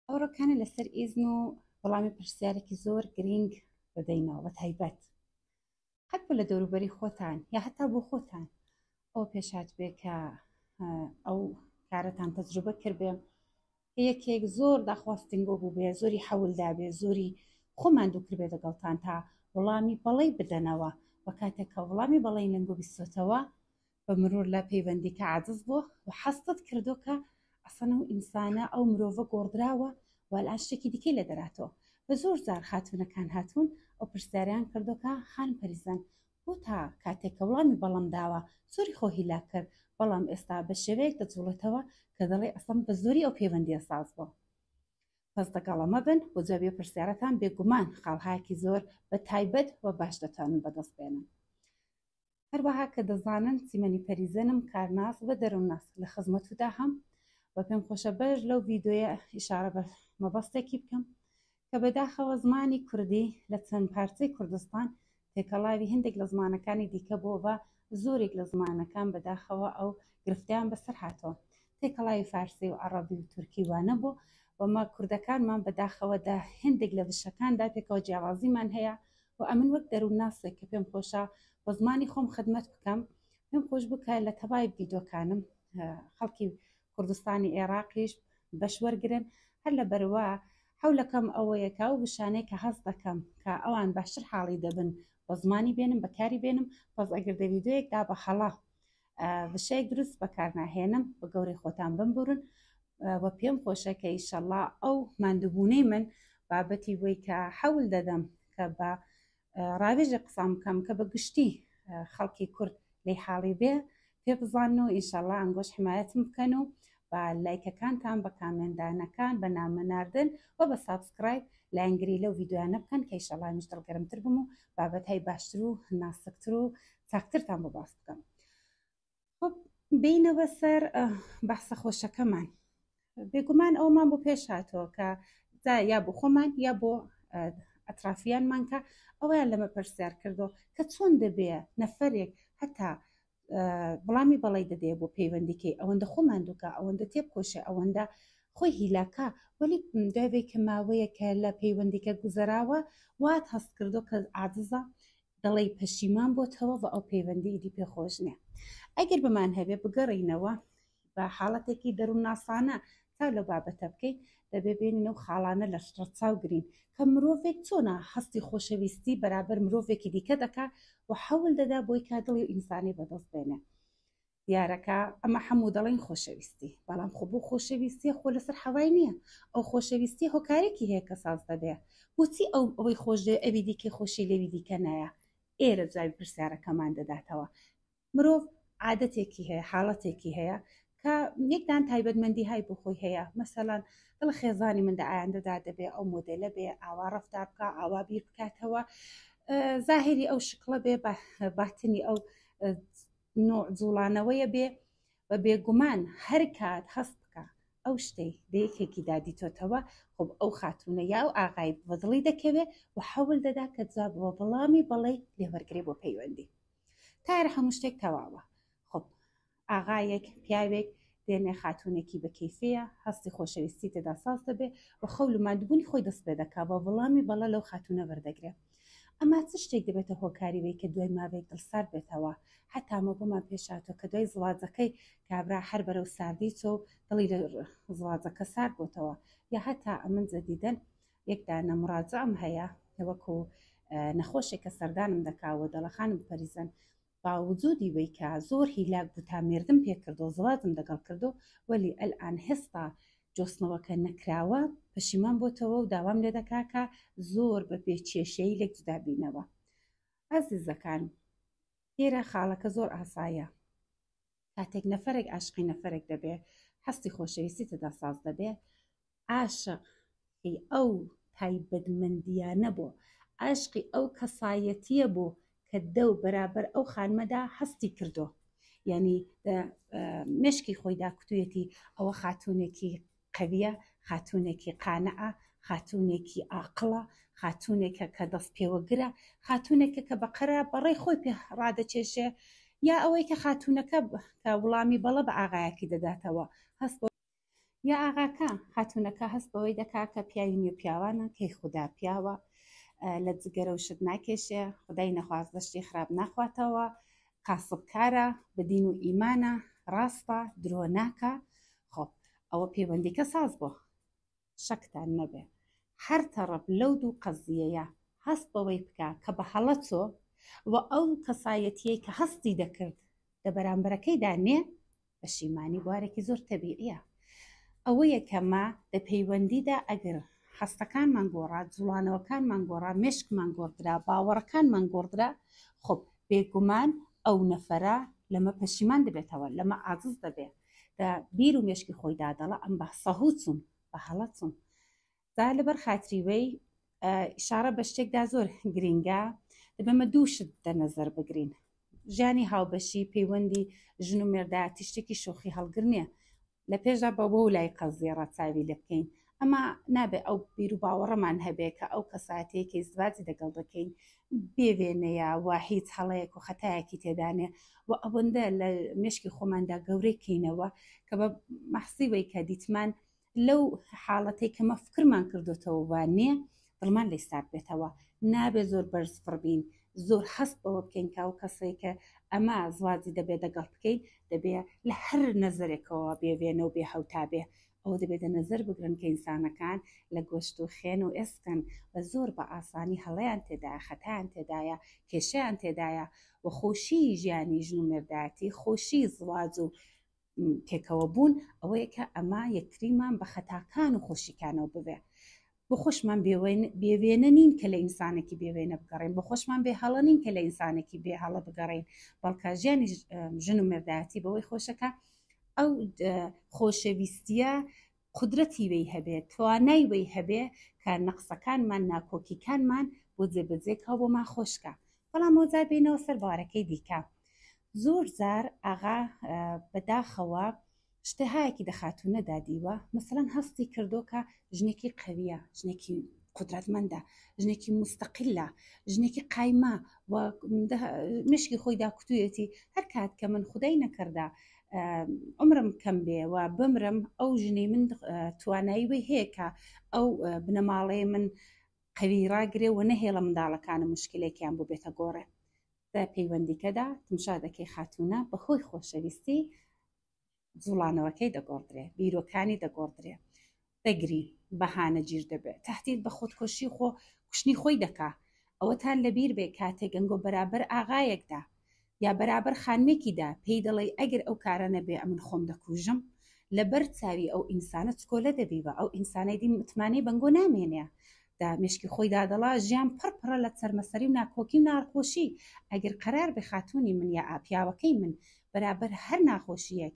ئەو ڕۆکانە لەسەر ئیزن و وەڵامی پرسیارێکی زۆر گرینگ دەدەینەوە بە تایبەت هەر بۆ لە دەوروبەری خۆتان یا هەتا بۆ خۆتان ئەو پێشات بێ کە ئەو کارەتان تەجروبە کردێ یەکێک زۆر داخواستنگۆ بوو بێ زۆری حەولدا بێ زۆری خۆمان دووکردێ دەگەڵتان تا وڵامی بەڵی بدەنەوە وە کاتێکە وڵامی بەڵی لەنگۆ بیستۆتەوە بە مرور لە پەیوەندیکە عاجز بووە و حەستت کردو کە ئەسەن ئەو ئینسانە ئەو مرۆڤە گۆڕدراوە و ئەلان شتێکی دیکەی لێ دەراتەوە بە زۆر جار خاتوونەکان هاتوون ئەو پرسیاریان کردوکە خانم پەریزان بۆ تا کاتێک کە وڵامی بەڵم داوە زۆری خۆ هیلاک کرد بەڵام ئێستا بە شێوەیەک دەجوڵێتەوە کە دەڵێ ئەسەم بە زۆری ئەو پەیوەندیە ساز بووە پس دەگەڵە مەبن بۆ جوابی پرسیارەکان بێگومان خاڵهایەکی زۆر بە تایبەت و باش دەتوانن بەدەست بێنن هەروەها کە دەزانن سیمەنی پەریزەنم کارناس و دەروونناس لە خزمەتودا هەم و پێم خۆشە بەش لەو ڤیدۆیە ئیشارە بە مەبەستێکی بکەم کە بەداخەوە زمانی کوردی لە چەند پارچەی کوردستان تێکەڵاوی هەندێک لە زمانەکانی دیکە بۆ بە زۆرێک لە زمانەکان بەداخەوە ئەو گرفتیان بەسەر هاتەوە تێکەڵاوی فارسی و عەڕەبی و تورکی وا نەبوو و مە کوردەکانمان بە داخەوە دە هێندێک لە وشەکان دا پێکەوە جیاوازیمان هەیە و ئەمن وەک دەروونناسێک کە پێم خۆشە بە زمانی خۆم خدمەت بکەم پێم خۆش بوو کە لە تەبای ڤیدۆکانم خەڵکی کوردستانی ئێراقیش بەش وەرگرن هەر لە بەروا حولەکەم ئەوەیە کە ئەو وشانەی کە هەست دەکەم کە ئەوان باشتر حاڵی دەبن بە زمانی بێنم بەکاری بێنم پس ئەگەر دە ڤیدۆیەک دا بە هەڵە وشەیەک دروست بەکارناهێنم بە گەورەی خۆتان بمبورن و پێم خۆشە کە ئیشەڵا ئەو مادوبوونەی من بابەتی بۆی کە حەول دەدەم کە بە ڕاوێژە قسان بکەم کە بە گشتی خەڵکی کورد لی حاڵی بێ پێ بزان و ئیشەڵا ئەنگۆش حمایەتم بکەن و بە لایکەکانتان بە کامێندانەکان بە نامەناردن و بە سابسکرایب لایەنگری لەو یددیوانە بکەن کە ئیشەڵامیش دڵگەرمتر بم و بابەتای باشتر و ناسکتر و چاکترتان بۆ باس بکەم خب بینەوە سەر بەحسە خۆشەکەمان بێگومان ئەومان بۆ پێش هاتەوە کە دا یا بۆ خۆمان یا بۆ ئەترافیانمان کە ئەویان لەمە پرسیار کردو کە چۆن دەبێ نەفرێک هەتا بڵامی بەڵی دەدێ بۆ پەیوەندیکەی ئەوەندە خۆمان دوکە ئەوەندە تێب کۆشە ئەوەندە خۆی هیلاکە وەلی دوێ کە ماوەیە کە لە پەیوەندیکە گوزەراوە وات هەست کردو کە عادزە دەڵێی پەشیمان بۆتەوە بە ئەو پەیوەندی ئیدی پێ خۆش نیە ئەگەر بمان هەبێ بگەڕینەوە بە حاڵەتێکی دەروونناسانە تا لەو بابەتە بکەین دەبێ بێنین ئەو خاڵانە لە ڕەچاو گرین کە مرۆڤێک چۆنا هەستی خۆشەویستی بەرابەر مرۆڤێکی دیکە دەکا و حەول دەدا بۆی کا دڵی ئینسانی بەدەست بێنێ دیارەکە ئەمە حەموو دەڵێن خۆشەویستی بەڵام خۆ بۆ خۆشەویستیە خۆ لەسەر حەوای نییە ئەو خۆشەویستی هۆکارێکی هەیە کە ساز دەبێ بۆچی ئەو ئەوەی خۆشێ ئەوی دیکەی خۆشی لەوی دیکە نایە ئێرە جوابی پرسیارەکەمان دەداتەوە مرۆڤ عادەتێکی هەیە حاڵەتێکی هەیە کە یەکدان تایبەتمەندی های بۆ خۆی هەیە مەسەلان دڵ خێزانی من لە ئایندەدا دەبێ ئەو مۆدلە بێ ئاوا ڕفتار بکە ئاوا بیر بکاتەوە زاهری ئەو شکڵە بێ باتنی ئەو نوع جوڵانەوەیە بێ و بێگومان هەر کات هەست بکە ئەو شتەی لە یەکێکی دادیتۆتەوە خۆب ئەو خاتونە یا و ئاغای بەدڵی دەکەوێ و حەول دەدا کە جوابەوە بەڵامی بەڵێ لێوەرگێ بۆ پەیوەندی تار هەموو شتێک تەواوە خۆب ئاغایەک پیاوێک دێنێ خاتوونێکی بە کەیفییە، هەستی خۆشەویستی تێدا ساز دەبێ و خەو لە ماندووبوونی خۆی دەست پێ دەکا و وەڵامی بەڵێ لەو خاتوونە وەردەگرێ. ئەما چ شتێک دەبێتە هۆکاری وەی کە دوای ماوەیەک دڵسارد بێتەوە؟ هەتا ئەمە بۆمان پێش هاتووە کە دوای زواجەکەی کابرا هەر بەرەو ساردی چووە و دڵی لە زواجەکە سارد بۆتەوە. یا هەتا ئەمن جەدیدەن یەک دانە مڕاجعەم هەیە وەکوو نەخۆشێک کە سەردانم دەکا و دەڵێ خانم پەریزن باوجودی وەی کە زۆر هیلاک بوو تا مێردم پێ کردو زەواجم دەگەڵ کردو وەلی ئەلئان هێستا جۆستنەوەکە نەکراوە پەشیمان بۆتەوە و داوام لێ دەکا کە زۆر بە بێ کێشەیی لێک جودا بینەوە ئازیزەکان ئێرە خاڵەکە زۆر ئاسایە. کاتێک نەفەرێک عاشقی نەفەرێک دەبێ هەستی خۆشەویستی تدا ساز دەبێ عاشق ئەو تایبەتمەندیانە بۆ عاشقی ئەو کەسایەتیە بۆ کە دەو بەرابەر ئەو خانمەدا هەستی کردو ینی مشکی خۆیدا کوتوێتی ئەوە خاتونێکی قەویە، خاتوونێکی قانعە، خاتوونێکی ئاقڵە، خاتوونێکە کە دەستپێوەگرە، خاتوونێکە کە بە قەرا بەڕەی خۆی پێ ڕادەکێشێ، یا ئەوەی کە خاتوونەکە کە وڵامی بەڵە بە ئاغایەکی دەداتەوە، هەست بە. یا ئاغاکە، خاتوونەکە هەست بەوەی دەکا کە پیاوی نێو پیاوانە، کەیخودا پیاوە، لە جگەرە و شت ناکێشێ، خودای نەخواستە شتی خراپ ناخواتەوە، کاسب کارە بە دین و ئیمانە ڕاستە درۆ ناکا خۆ ئەوە پەیوەندیکە ساز بۆ شەکتان نەبێ هەر تەڕەپ لەو دوو قەزیەیە هەست بەوەی بکە کە بە هەڵە چۆ و ئەو کەسایەتیەی کە هەستی دەکرد لە بەرامبەرەکەیدا نێ پەشیمانی بوارێکی زۆر تەبیعیە ئەوەیە کە ما لە پەیوەندیدا ئەگەر هەستەکانمان گۆڕا جوڵانەوەکانمان گۆڕا مشکمان گۆڕدرا باوەڕەکانمان گۆڕدرا خۆ بێگومان ئەو نەفەرە لەمە پەشیمان دەبێتەوە لەمە عادز دەبێت بیر و مشکی خۆی دادەڵە ئەم بە سەهوچون بە هەڵەچون دا لەبەر خاتری وی ئشارە بە شتێکدا زۆر گرینگە بەمە دوو شت دەنەزەر بگرین ژیانی هاوبەشی پەیوەندی ژن و مێردا تیشتێکی شۆخی هەڵگر نییە لە پێشدا بە بۆ لای قەزیێ ڕەتاوی لە بکەین ئەما نابێت ئەو بیر و باوەڕەمان هەبێت کە ئەو کەساتەیەکی زواجی دەگەڵ دەکەین بێوێنەیە و هیچ هەڵەیەک و خەتایەکی تێدانێ و ئەوەندە لە مشکی خۆماندا گەورەی کەینەوە کە بە مەحسیوەی کە دیتمان لەو حاڵەتەی کە مە فکرمان کردوتەوە وە نێ دڵمان لێی سارد بێتەوە نابێ زۆر بەرز فڕ بین زۆر هەست بەوە بکەین کە ئەو کەسەی کە ئەمە زوازی دەبێ دەگەڵ بکەین دەبێ لە هەر نەزەرێکەوە بێ وێنە و بێ هەوتا بێ ئەوە دەبێ دە نەزەر بگرن کە ئینسانەکان لە گۆشت و خێن و ئێسکن و زۆر بە ئاسانی هەڵەیان تێدایە خەتایان تێدایە کێشەیان تێدایە و خۆشیی ژیانی ژن و مێردایەتی خۆشیی زواج و پێکەوە بوون ئەوەیە کە ئەما یەکتریمان بە خەتاکان و خۆشیکانەوە ببێ بۆ خۆشمان بێوێنە نین کە لە ئینسانێکی بێوێنە بگەڕین بۆ خۆشمان بێ هەڵە نین کە لە ئینسانێکی بێ هەڵە بگەڕین بەڵکە ژیانی ژن و مردایەتی بەوەی خۆشەکە ئەو خۆشەویستیە قودرەتی وی هەبێ، توانای وی هەبێ کە نەقسەکانمان، ناکۆکیکانمان بۆ جێبەجێ کا و بۆمان خۆش کا. بەڵام ئەوجار بێینەوە سەر بارەکەی دیکە. زۆر جار ئاغا بە داخەوە شتەهایەکی دە خاتوونە دا دیوە، مەسەلەن هەستی کردۆ کە ژنێکی قەوییە، ژنێکی قودرەتمەندە، ژنێکی موستەقیلە، ژنێکی قایمە و مشکی خۆی دا کوتوویەتی، هەر کات کە من خودای نەکەردە عمرم کەم بێ و بمرم ئەو ژنەی من توانایی وی هەیە کە ئەو بنەماڵەیە من قەوی ڕاگرێ و نەهێڵە منداڵەکانە مشکلێکیان بۆ بێتە گۆڕێ لە پەیوەندیکەدا تمشا دەکەی خاتونە بەهۆی خۆشەویستی جوڵانەوەکەی دەگۆڕدرێ بیرۆکانی دەگۆڕدرێ بەگری بەهانە گیر دەبێ تەهدید بە خۆدکۆشی خۆ کوشتنی خۆی دەکا ئەوەتان لەبیر بێ کاتێ گەنگۆ بەرابەر ئاغایەک دا یا بەرابەر خانمێکی دا پێی دەڵێی ئەگر ئەو کارە نەبێ ئەمن خۆم دەکوژم لەبەر چاوی ئەو ئینسانە چکۆلە دەبیبا ئەو ئینسانەی دی متمانەی بەنگۆ نامێنێ دا مشکی خۆی دا دەڵا ژیان پڕ پڕە لە چەرمەسەری و ناکۆکی و ناڕخۆشی ئەگر قەرار بێ خاتوونی من یا ئاپیاوەکەی من بەرابەر هەر ناخۆشیەک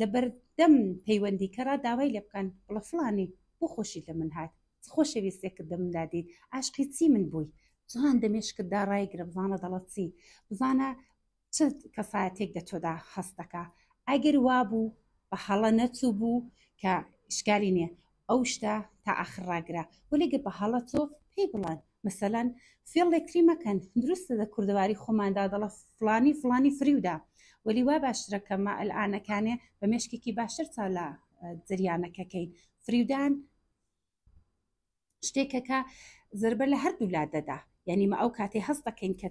لەبەردەم پەیوەندیکەرا داوای لێ بکەن بڵێ فڵانی بۆ خۆشیت لە من هات؟ چ خۆشەویستێکت لە مندا دیت؟ عاشقی چی من بووی؟ جوان دە مێشکتدا ڕایگرە بزانە دەڵەت چی؟ بزانە چ کەسایەتێک لە تۆدا هەست دەکا؟ ئەگەر وابوو بە هەڵە نەچووبوو کە ئیشکالی نییە، ئەو شتە تا ئاخر ڕاگرە وەلێ گە بە هەڵە تۆ پێی بڵێن مەسەلەن فێڵ لێکتری مەکەن دروستە دە کوردەواری خۆماندا دەڵە فڵانی فڵانی فریودا وەلی وا باشترە کە مە ئەلئانەکانێ بە مێشکێکی باشتر تا لە جریانەکەکەین فریودان شتێکەکە زربە لە هەردوو لا دەدا یانی مە ئەو کاتەی هەست دەکەین کە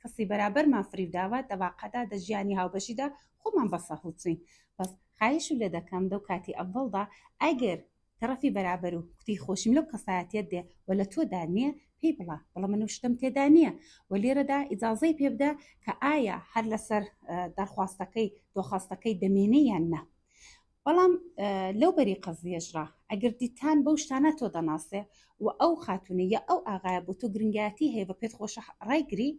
کەسی بەرابەرمان فریوداوە دەواقعدا دە ژیانی هاوبەشیدا خۆمان بەسە هەڵچین بەس خایش و لێ دەکەم دەو کاتی ئەڤڵدا ئەگەر تەرەفی بەرابەر و کوتی خۆشیم لەو کەسایەتێت دێ و لە تۆدا نییە پێی بڵە بڵە من و شتم تێدا نییە و لێرەدا ئیجاازەی پێ بدە کە ئایا هەر لەسەر دەرخواستەکەی دۆخواستەکەی دەمێنێ یان نا بەڵام لەو بەری قەزیەشڕا ئەگەر دیتان بەو شتانە تۆ دەناسێ و ئەو خاتونە یا ئەو ئاغایە بۆ تۆ گرنگایەتی هەیە بە پێت خۆشە ڕایگری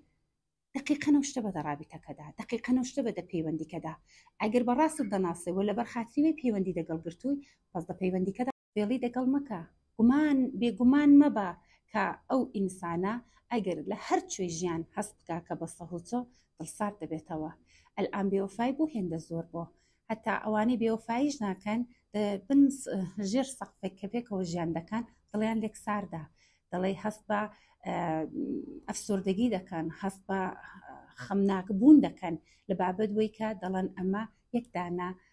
دقیقەنە شتە بە دەڕابیتەکەدا دقیقەنە شتە بە دە پەیوەندیکەدا ئەگەر بە ڕاستت دەناسێ و لەبەر خاتریوی پەیوەندی دەگەڵ گرتووی پس دە پەیوەندیکەدا فێڵی دەگەڵ مەکە گومان بێگومان مەبە کە ئەو ئینسانە ئەگەر لە هەر کوێی ژیان هەست بکا کە بە سەهۆچۆ دڵسارد دەبێتەوە ئەلئان بێوەفای بۆ هێندە زۆر بۆ هەتا ئەوانەی بێوەفاییش ناکەن بن ژێر سەقفێک کە پێکەوە ژیان دەکەن دڵیان لێک ساردا دەڵێ هەست بە ئەفسردگی دەکەن هەست بە خەمناک بوون دەکەن لە بابەت وی کە دەڵەن ئەمە یەکدانە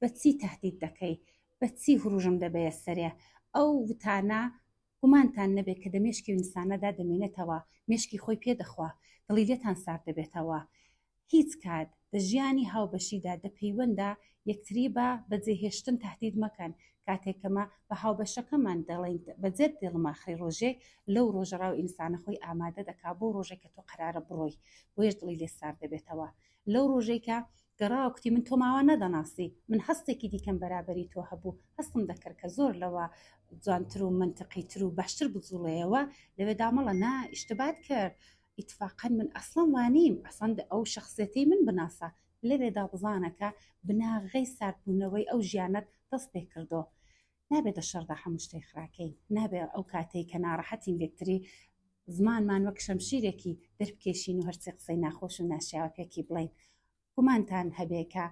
بە چی تەهدید دەکەی؟ بە چی هوروژم دەبەیە سەرێ؟ ئەو وتانە گومانتان نەبێ کە دە مێشکی ئینسانەدا دەمێنێتەوە، مێشکی خۆی پێ دەخوا، دڵی لێتان سارد دەبێتەوە. هیچ کات دە ژیانی هاوبەشیدا، دە پەیوەندا یەکتری بە بە جێ هێشتن تەهدید مەکەن. کاتێک کە مە بە هاوبەشەکەمان دەڵێین بە جێت دێڵم ئاخری ڕۆژێک لەو ڕۆژە ڕاو ئینسانە خۆی ئامادە دەکا بۆ ڕۆژێک کە تۆ قەرارە بڕۆی بۆیەش دڵی لێ سارد دەبێتەوە لەو ڕۆژەی کە گەڕاوە کوتی من تۆماوا نەدەناسی من هەستێکی دیکەم بەرابەری تۆ هەبوو هەستم دەکرد کە زۆر لەوە جوانتر و منتەقی تر و باشتر بزوڵەیەوە لەوێ دامەڵە نا ئیشتبات کرد ئیتفاقەن من ئەسڵم وانیم ئەسەند ئەو شخصێتی من بناسە لەوێدا بزانەکە بناغەی ساردبوونەوەی ئەو ژیانەت دەست پێ کردو نابێتە شەڕدا هەموو شتێ خراکەین نابێ ئەو کاتەی کە ناڕەحەتین لێکتری زمانمان وەک شەمشیرێکی دەربکێشین و هەرچی قسەی ناخۆش و ناشیاوە پێکی بڵین گومانتان هەبێکە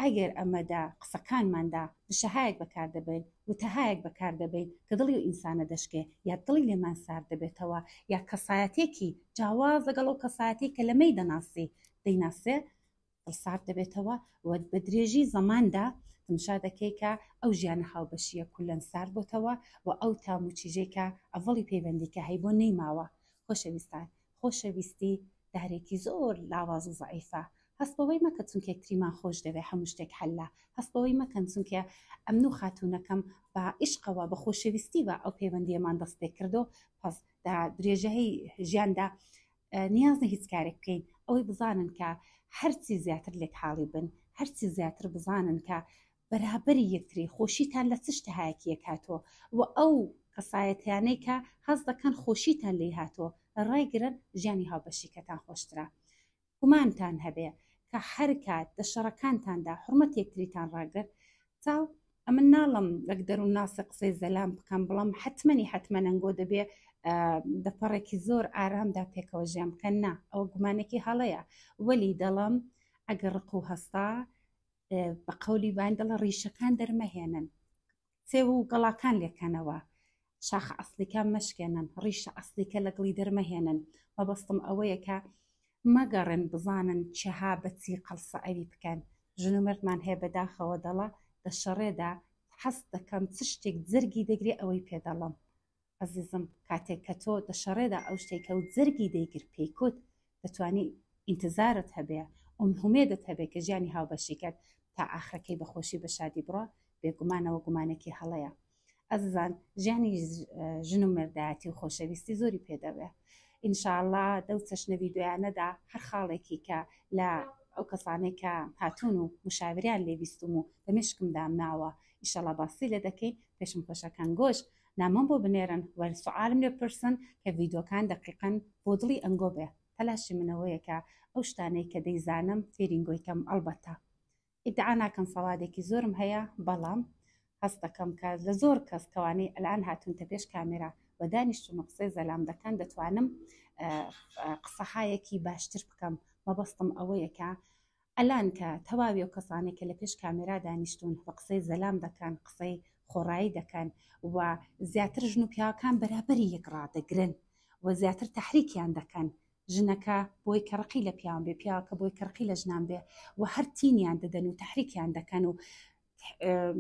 ئەگەر ئەمەدا قسەکانماندا دشەهایەک بەکار دەبین وتەهایەک بەکار دەبین کە دڵی و ئینسانە دەشکێ یا دڵی لێمان سار دەبێتەوە یا کەسایەتێکی جاواز لەگەڵ ئەو کەسایەتی کە لەمەی دەناسی دەیناسێ سارد دەبێتەوە و بە درێژی زەماندا تمشا دەکەی کە ئەو ژیانە هاوبەشیە کولەن سارد بۆتەوە و ئەو تام و چیژەی کە ئەڤڵی پەیوەندی کە هەی بۆ نەیماوە خۆشەویستان خۆشەویستی دارێکی زۆر لاواز و زەعیفە هەست بەوەی مەکە چونکە یەکتریمان خۆش دەوێ هەموو شتێک حەلە هەست بەوەی مەکەن چونکە ئەمن و خاتوونەکەم بە عیشقەوە بە خۆشەویستیوە ئەو پەیوەندیەمان دەست پێ کردو پس دا درێژەی ژیاندا نیازنە هیچ کارێک بکەین ئەوەی بزانن کە هەرچی زیاتر لێک حاڵی بن هەرچی زیاتر بزانن کە بەرابری یەکتری خۆشیتان لە چشتە هایەکیە کاتۆ و ئەو قەسایەتیانەی کە هەز دەکەن خۆشیتان لی هاتۆ ڕایگرن ژیانی هاوبەشیکەتان خۆشترا گومانتان هەبێ کە هەر کات دە شەڕەکانتاندا حرمەت یەکتریتان ڕاگرت چاو ئەمن ناڵم لەک دەروون ناسە قسەی زەلام بکەم بڵام حتممەنی حتممەەنگۆ دەبێ دەپەڕێکی زۆر ئارامدا پێکەوە ژیان بکەن نا ئەوە گومانێکی هەڵەیە وەلی دەڵم ئەگەر ڕق و هەستا بە قولی باین دەڵە ڕیشەکان دەرمەهێنن سێ و گەڵاکان لێکەنەوە شاخە ئەسڵیکە مەشکێنن ڕیشە ئەسڵیکە لە گڵی دەرمەهێنن مەبەستم ئەوەیە کە مەگەڕێن بزانن چها بەچی قەڵسە ئەوی بکەن ژن و مردمان هەیە بەداخەوە دەڵە لە شەڕێدا حەست دەکەم چ شتێک جەرگی دەگرێ ئەوەی پێ دەڵم ئەزیزم کاتێک کە تۆ دە شەڕێدا ئەو شتێکە و جەرگی دەیگر پێیکوت دەتوانی ئینتزارت هەبێ ئومهومێدت هەبێ کە ژیانی هاوبەشیکەت تا ئاخرەکەی بە خۆشی بە شادی بڕوا بێگومانەوە گومانێکی هەڵەیە ئەززان ژیانی ژن و مردایەتی و خۆشەویستی زۆری پێدەوێ ئینشاءاللە دەو چەشنە ڤیددیویانەدا هەر خاڵێکی کە لە ئەو کەسانەی کە هاتوون و مشاوریان لێویستم و لە مشکم دامناوە ئیشەڵا باسی لە دەکەین پێشم خۆشەکان گۆش نامەم بۆ بنێرن و سوعالم لێ بپرسن کە ڤیدۆکان دەقیقەن بۆ دڵی ئەنگۆ بێ تەلاشی من ئەوەیە کە ئەو شتانەی کە دەیزانم فێری ئنگۆی کەم ئەڵبەتە ئیدعا ناکەم سەوادێکی زۆرم هەیە بەڵام هەست دەکەم کە لە زۆر کەس کەوانەی ئەلان هاتونتە پێش کامێرا و دانیشتون و قسەی زەلام دەکەن دەتوانم قسەهایەکی باشتر بکەم مەبەستم ئەوەیە کە ئەلان کە تەواوی ئەو کەسانەی کە لە پێش کامێرا دانیشتوون و قسەی زەلام دەکەن قسەی خۆڕایی دەکەن و زیاتر ژن و پیاوەکان بەرابەری یەک ڕادەگرن و زیاتر تەحریکیان دەکەن ژنەکە بۆی کە ڕقی لە پیاوان بێ پیاوەکە بۆی کە ڕقی لە ژنان بێ و هەر تینیان دەدەن و تەحریکیان دەکەن و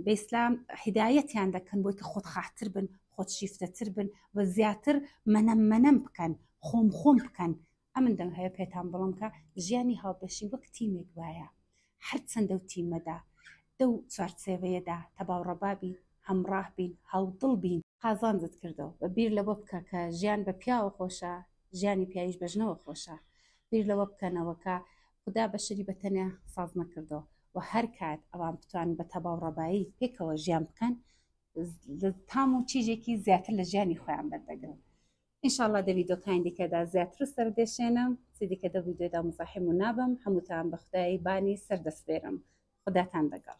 بە ئیسلام هدایەتیان دەکەن بۆی کە خۆت خاحتر بن خۆت شیفتەتر بن و زیاتر منەم منەم بکەن خۆم خۆم بکەن ئەمن دەم هەیە پێتان بڵم کە ژیانی هاوبەشی وەک تیمێک وایە هەر چەندە و تیمەدا دەو چوارچێوەیەدا تەباو ڕەبابی هەمڕاه بین هاودڵ بین. قازانجت کردەوە بە بیر لەوە بکە کە ژیان بە پیاوە خۆشە ژیانی پیاویش بە ژنەوە خۆشە بیر لەوە بکەنەوە کە خودا بەشەری بە تەنیا ساز نەکردوە وە هەر کات ئەوان بتوانن بە تەباو ڕەبایی پێکەوە ژیان بکەن تام و چیژێکی زیاتر لە ژیانی خۆیان بەردەگرن ان شاء اللە دە ڤیدۆ کانی دیکە دا زیاتر سەر دێشێنم چی دیکە دە ڤیدۆ دا مزاحم و نابم هەمووتان بە خودای بانی سەر دەسپێرم خوداتان دەگەڵ.